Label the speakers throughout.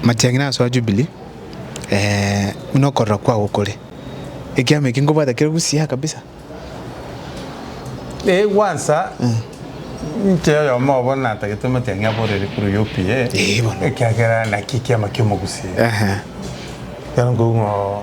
Speaker 1: Amachang'ina ase Jubilee eh, buna okorora kwao kore. Ekiama eki nkobwata kere busiaa kabisa. Eh,
Speaker 2: gwansa nche oyomo obo natagete omoteng'ia borere kuru UPA Eh, bono. ekiagera naki kiama kiomogusii Ehe. Ekero nkoigwa ng'a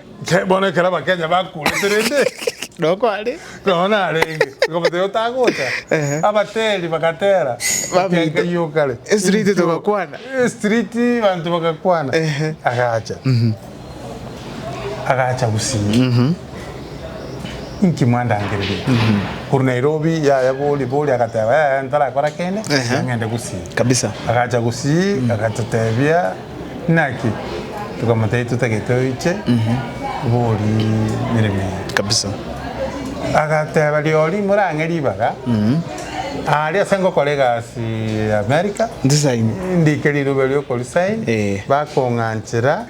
Speaker 1: Inche bono
Speaker 2: ekero abakenya bakurete rende Noo kware.
Speaker 1: nonya narenge
Speaker 2: bakabatebia otagocha Ehe. abateri bagatera Bamita. ekenka iyio kare Street Inchuo. togakwana.
Speaker 1: Eh, street
Speaker 2: banto bagakwana Ehe. agacha agacha gusii inki mwandangereria korwa nairobi yaya bori bori agateba yaya ntarakora kende Ehe. tiga ng'ende gusii Kabisa. agacha
Speaker 1: gusii
Speaker 2: agatotebia Naki? Tokamotebia totagete oiche bori mirimo yaye. Kabisa. Agateba riori morang'e ribaga aria ase ngokora egasi America. Ndi sign.
Speaker 1: Ndike rirobe
Speaker 2: riokori sign bakong'anchera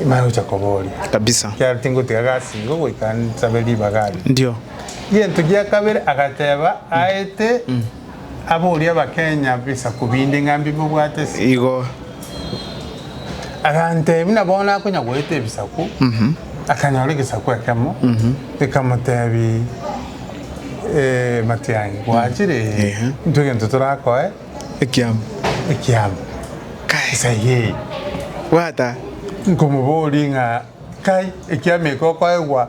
Speaker 2: mara gocha koboria. Kabisa. Ekiagera
Speaker 1: tingotiga gasi
Speaker 2: igo goika nsabe ribaga aria. Ndio.
Speaker 1: Gento gia
Speaker 2: kabere agateba aete. Abori abakenya bisaku binde ng'a mbi bobwate ase. Igo. Agantebi na bono akonya goeta ebisaku, akanyora egesaku ekemo, gekamotebi, Ee, matiang'i, gwachire, ee, intwe egento torakoe Ekiamo.
Speaker 1: ekiamo.
Speaker 2: Kai. Esegi eye. Bwata.
Speaker 1: Nkomobori
Speaker 2: ng'a, Kai, ekiamo eke okoegwa.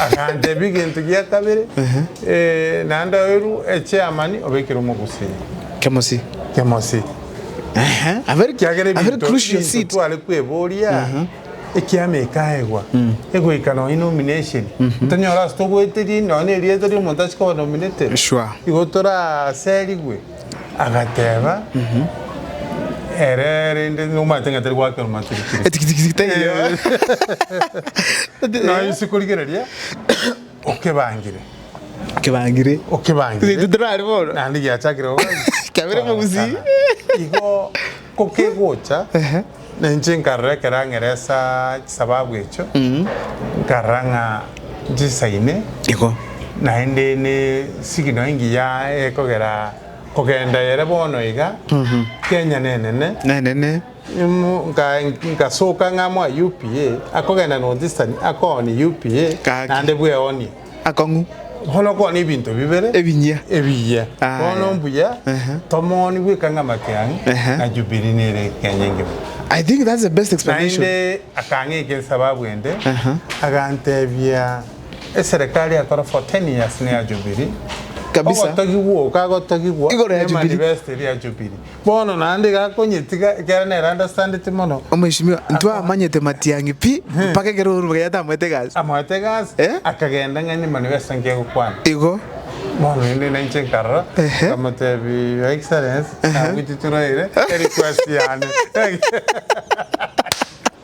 Speaker 2: Agantebia, Egento gia kabere, naende oeru echiamani obekere omogusii. Kemosi. Kemosi.
Speaker 1: Ekiagera ebinto ebinto tware kweboria,
Speaker 2: ekiama ekaegwa, egoika nonye nomination, ntonyore ase togoeteria nonya nerieta riomonto ase koba nominated, igo
Speaker 1: toraserigwe.
Speaker 2: Agateeba, Ere rende nomanyete ng'a tari goakera omatirikiri. Etikitiki taiyo. Nonya inse korigereria okebangire, Kebangire.
Speaker 1: okebangire Titari bono. naende giachakire goka.
Speaker 2: Kiabire
Speaker 1: mogusii. Igo.
Speaker 2: Ko kegocha, na inche nkarora ekero ang'era ase chisababu echio, nkarora ng'a nchisaine,
Speaker 1: naende ne
Speaker 2: signal engiya ekogera kogenda ere bono iga, Kenya nenene, ngasoka ng'ama oye UPA, akogenda North Eastern akooni UPA, naende bweonie. akong'u.
Speaker 1: Bono okwane
Speaker 2: ebinto bibere. Ebinyia. Ebiya. Aya. Bono mbuya Ehe. tomoni bweka ng'amate ang'e, Ehe. na Jubilee nere ekenya engima. I think that's the
Speaker 1: best explanation. Naende akang'ika
Speaker 2: esababu ende, Aha. agantebia, Eserekari yakora for 10 years neya Jubilee, Kabisa. ogotogigwa oka gotogigwa Igoro ya Jubilee.
Speaker 1: nemanifesto eria ya Jubilee.
Speaker 2: Bono naende iga akonyetiga, ekiagera nere andasandeti mono. Omweshimiwa, ntwamanyete
Speaker 1: matiang'i pi, mpaka ekero Uhuru Muigai atamoete egasi. Amoete egasi, akagenda ng'a nyuma
Speaker 2: nigo ase engaki egokwana. Igo.
Speaker 1: Bono rende
Speaker 2: nainche nkarora, nkamotebi, Your Excellency, nabwiti turaire, tari kwasi yane.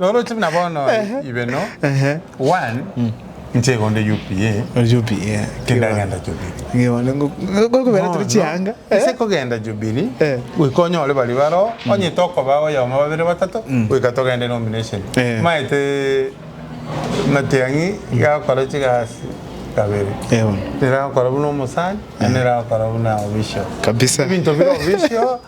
Speaker 2: Oroche buna bono ibeno one inche igo onde UPA Ori UPA. Iga tindagenda Jubilee. Iga onde ngo- ngo-
Speaker 1: gokobera tore chianga. Eh? Ase kogenda
Speaker 2: Jubilee Eh. goika onyore baria baroo onye tokoba oyomo babere batato goika togende nomination Eh. maete Matiang'i gakore chigasi kabere Eh, bono. nere agokora buna omosani na nere agokora buna official Kabisa. ebinto bire
Speaker 1: official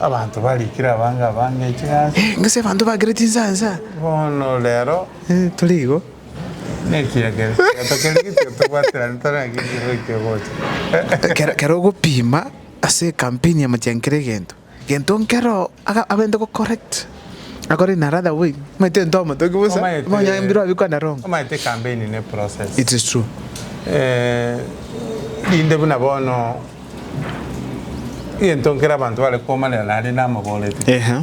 Speaker 2: Abanto barikire abange abange inche gasi. Gose abanto bakire
Speaker 1: chinsansa. Bono rero.
Speaker 2: Tore igo.
Speaker 1: Nekiya
Speaker 2: kere. Egento keria getiga tobwaterane tore naki ekiagera ekio ogocha. Kero ogopima
Speaker 1: ase ekampeni ya mochiankere egento, egento nkero abende gocorrect. Akore inara the way omanyete into omotoki bosa Omanyete- Bonya mbiro abikwa na rongo omanyete campaign ne
Speaker 2: process It is true
Speaker 1: Eh,
Speaker 2: rinde buna bono egento nkere abanto bare komanera nare namoborete Ehe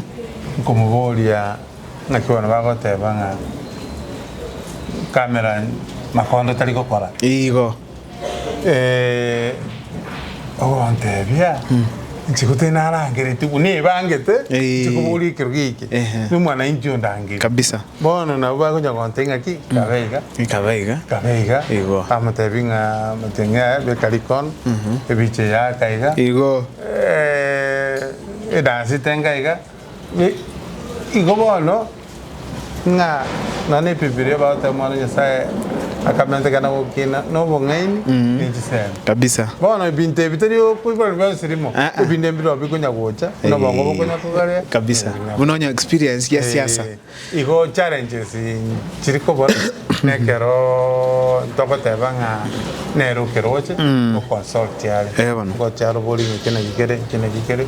Speaker 2: nkomoboria ng'aki bono bagoteba ng'a kamera makondo tari gokora Igo
Speaker 1: Eh,
Speaker 2: ogontebia inche gotari narangereti buna ebangete Eh. inche koboria ekero geke Ehe. na omwanainchi ondangeri Kabisa. bono
Speaker 1: nabo bagocha
Speaker 2: gontebia ng'a ki kabe iga Ikaba iga. kabe iga Igo.
Speaker 1: amotebi ng'a
Speaker 2: amotenge aya beka rikono ebiche yaka iga Igo.
Speaker 1: Eh,
Speaker 2: edansi tenga iga Na igo bono, ng'a na nebibilia bagotogia Omwana o Nyasae akametekana gokina nobong'aini ne chisemi. Kabisa. Bono
Speaker 1: ebinto ebi tari
Speaker 2: okoiborwa bionsi rimo, Eeh. ebinde mbirobio bikonya gocha, buna obongo bokonya kogaria, Kabisa. Buna onye
Speaker 1: experience ya siasa. Eeh. Igo
Speaker 2: challenges chiri kobora nekero ntogoteba ng'a nere okeroche o consult are Eh, bono. ogocha arobori ng'a eke naki kere eke naki kere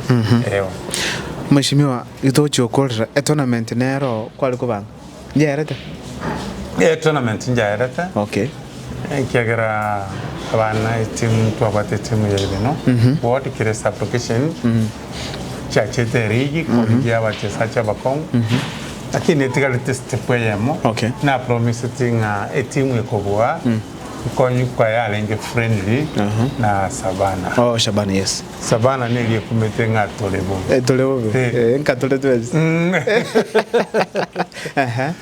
Speaker 2: eh, bono. Mweshimiwa
Speaker 1: gitogochia okorera etournament nero kware koba ng'a? Nyaerete? Eh,
Speaker 2: tournament njaerete. Okay.
Speaker 1: Ekiagera
Speaker 2: abana etimu twabwate etimu ya Ibino ward kire sub location chiachete erigi korigia abachesaji abakong'u lakini etigarete step eyemo Okay. na promiseti ng'a etimu ekobua nkonyu kwaye arenge friendly Aha. na Savana Oh, Shabana, yes.
Speaker 1: Savana neri
Speaker 2: ekumete ng'a tore bobe Eh, tore bobe. Eh. Eh,
Speaker 1: nka tore twensi. Mm. Ehe.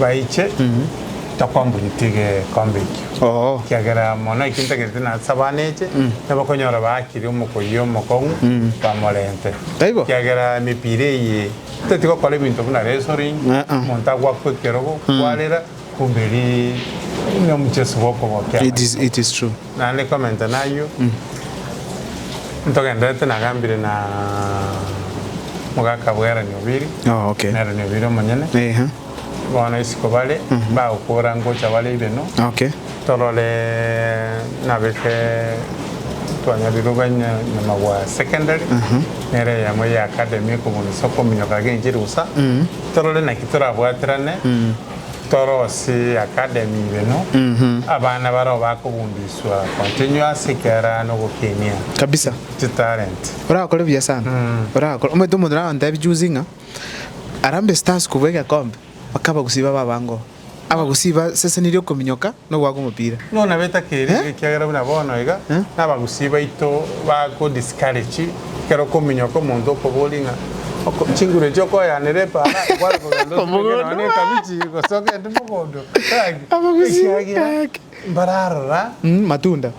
Speaker 2: baiche takwambunyeti egekombe ekio, Oo. ekiagera mono ekio ntagereti na ase abana eche nabakonyora baakire omokuyi omokong'u bamorente. Taibo? Ekiagera emepira eye totati gokora ebinto buna wrestling, Uh-uh. omonto agwakwa ekerogo kwarera kumbe eri nomucheso bw'okobokera. It is, it is true.
Speaker 1: Naende komenta nayio
Speaker 2: ntogenderete nagambire na mogaka bwa Erani Obiri Oh, okay. na Erani Obiri omonyene Ehe. bono isiko bare bagokora ngocha bare ibeno Okay. torore nabeke twanyarire obanya nyuma bwa secondary nere eyemo ya academy ekobunisa okominyoka genchirusa torore naki torabwaterane Torosy Academy ibeno abana barao bakobundiswa continuous ekera nogokinia Kabisa. chi
Speaker 1: talent.
Speaker 2: Orakore buya sana
Speaker 1: orakore omanyete omonto narantebia juzi ng'a Harambee Stars kobua egekombe bakaba gusii babe abange oo abagusii ba season eria okominyoka nogoaka omopira. Nigo nabeta keria,
Speaker 2: ekiagera buna bono iga nabagusii baito bago discourage ekero okominyoka omonto okoboria ng'a oko chinguru echi okoyaanera epaara kware kogenda otureke nonya ne ekabichi gose ogende mogondo gaki ekiagera mbararora matunda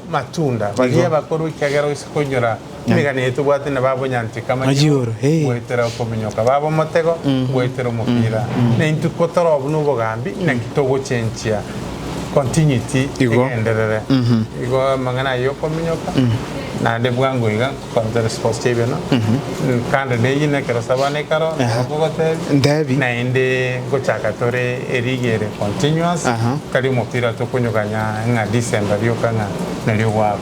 Speaker 2: baria abakoro ekiagera oise koinyora Emegano eye tobwate na babonyanchete kama nigo goetera
Speaker 1: okominyoka
Speaker 2: babe omotego goetera omopira. Naintwe ko toro buna obogambi naki togochenchia continuity egenderere. Igo amang'ana ayio okominyoka naende bwango iga nkokoanchore esports chia ebiana kando na eyio nekero sabana ekaro nabo nkogotebia naende nkochaka tore erigi ere continuous tari omopira tokonyoganya ng'a December rioka ng'a nario gwakwa.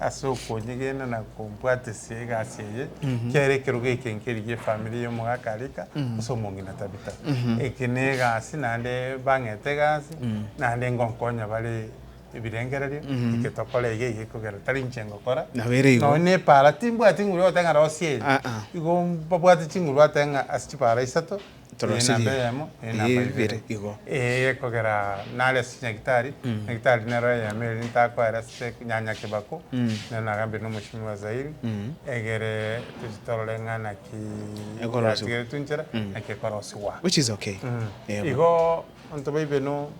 Speaker 2: ase okonyegena na kombwatesia egasi eye, kiare ekerogo eke nkerigie efamiri ya omogaka Arika ase omong'ina Tabitha. Eke na egasi naende bang'ete egasi, naende ngonkonya bare ebirengererio, eke tokore iga iga ekogera tari inche ngokora. Nabo ere igo. Nonya na epaara timbwati nguru yogoteba ng'a rosia eye. Aa. Igo mbabwate chinguru bateba ng'a ase chipaara isato,
Speaker 1: Torosirie
Speaker 2: ibere igo. Ee kogera nare ase chinyagitari, nyagitari nero eyemo eria ntakwaera ase nyanya kebako, nero nagambire na omochie bwa Zairi, egere tochie torore ng'a naki Ekorosiwa. yatigeretwe nchera, naki ekorosiwa. Which is okay.
Speaker 1: Igo
Speaker 2: onto baibe no,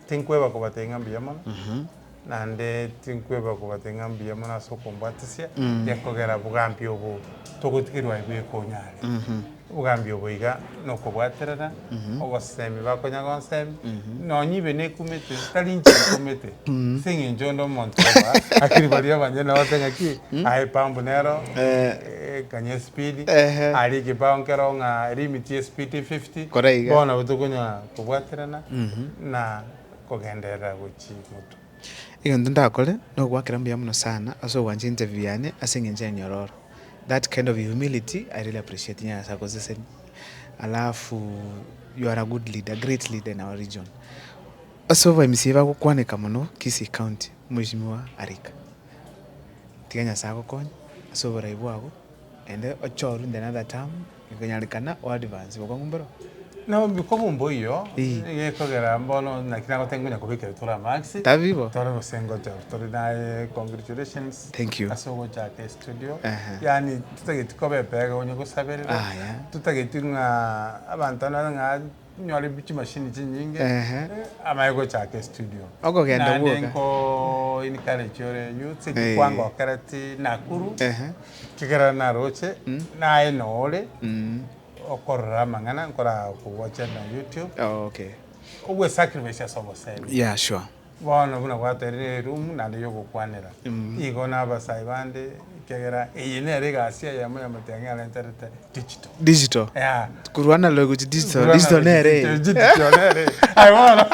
Speaker 2: tinkweba kobatebi ng'a mbuya mono. naende tinkweba kobate ng'a mbuya mono ase okombwatisia, gekogera bogambi obo togotigerwa aye bweka onyare. Obogambi obo iga nokobwaterana, ogosemi bakonya gonsemi, nonya ibe nekumete, tari inche nkumete, ase eng'encho onde omonto oba akiri baria abanyene bagote ng'aki, aye pambu nero ekanye espeed, aria ekebao nkero ng'a limit ye speed fifty, Kore iga. bono nabo tokonyara kobwaterana na kogenderera gochia moto. Egento ndakore
Speaker 1: nogoakera mbuya mono sana ase ogwancha interview yane ase engencho ya nyororo that kind of humility I really appreciate nyasae akosesenie alafu you are a good leader great leader in our region ase obaimisie bagokwaneka mono kisii county mweshimiwa arika tiga nyasae agokonye ase oborai bwabo ende oche orunde another term. Gekonyarekana o advance gokwa ng'umbe ro. Nabo mbikwa bo
Speaker 2: mboiyo, gekogera mbono naki nagoteba nkonya kobekera tore amax. Tabi bo. Tore gose
Speaker 1: ngocha
Speaker 2: tore naye congratulations. Thank you. Ase ogochaka
Speaker 1: estudio.
Speaker 2: Yaani totageti koba epega onye gosaberera. Aya. Totageti ng'a abanto naro ng'a Nyore chimashini chinyinge amanye gochaka estudio. Okogenda bwoka. Naende
Speaker 1: nko
Speaker 2: encourage ore enywe ase ki kwangokereti Nakuru. Ekiagera naroche naye nore okorora amang'ana nkoragowacha na YouTube.
Speaker 1: Ogwe sacrifice
Speaker 2: ase obosemi. Yeah sure.
Speaker 1: Bono buna
Speaker 2: gwateire erumu naende y'ogokwanera, igo n'abasae bande, ekiagera eye nere egasi eyemo y'amatiang'i arenterete digital. Digital. Yeah. Korwa
Speaker 1: analog gochia digital.
Speaker 2: Korwa Digital analog
Speaker 1: nere. gochia digital nere. Aye
Speaker 2: bono,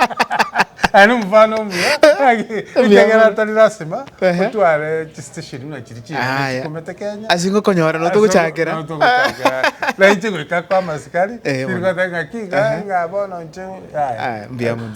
Speaker 1: aye
Speaker 2: nomofano omuya, ng'aki, ekiagera tari lasima Ehe. otware chistation buna chiria chiane Aya. chikomete Kenya. Ase ngokonyora noto
Speaker 1: gochakera. Noto gochakera.
Speaker 2: Nainche goika kwa amasikari, Eh, bono. nigoteba ng'aki, Ehe. ng'a bono inche, Aya, mbuya mono.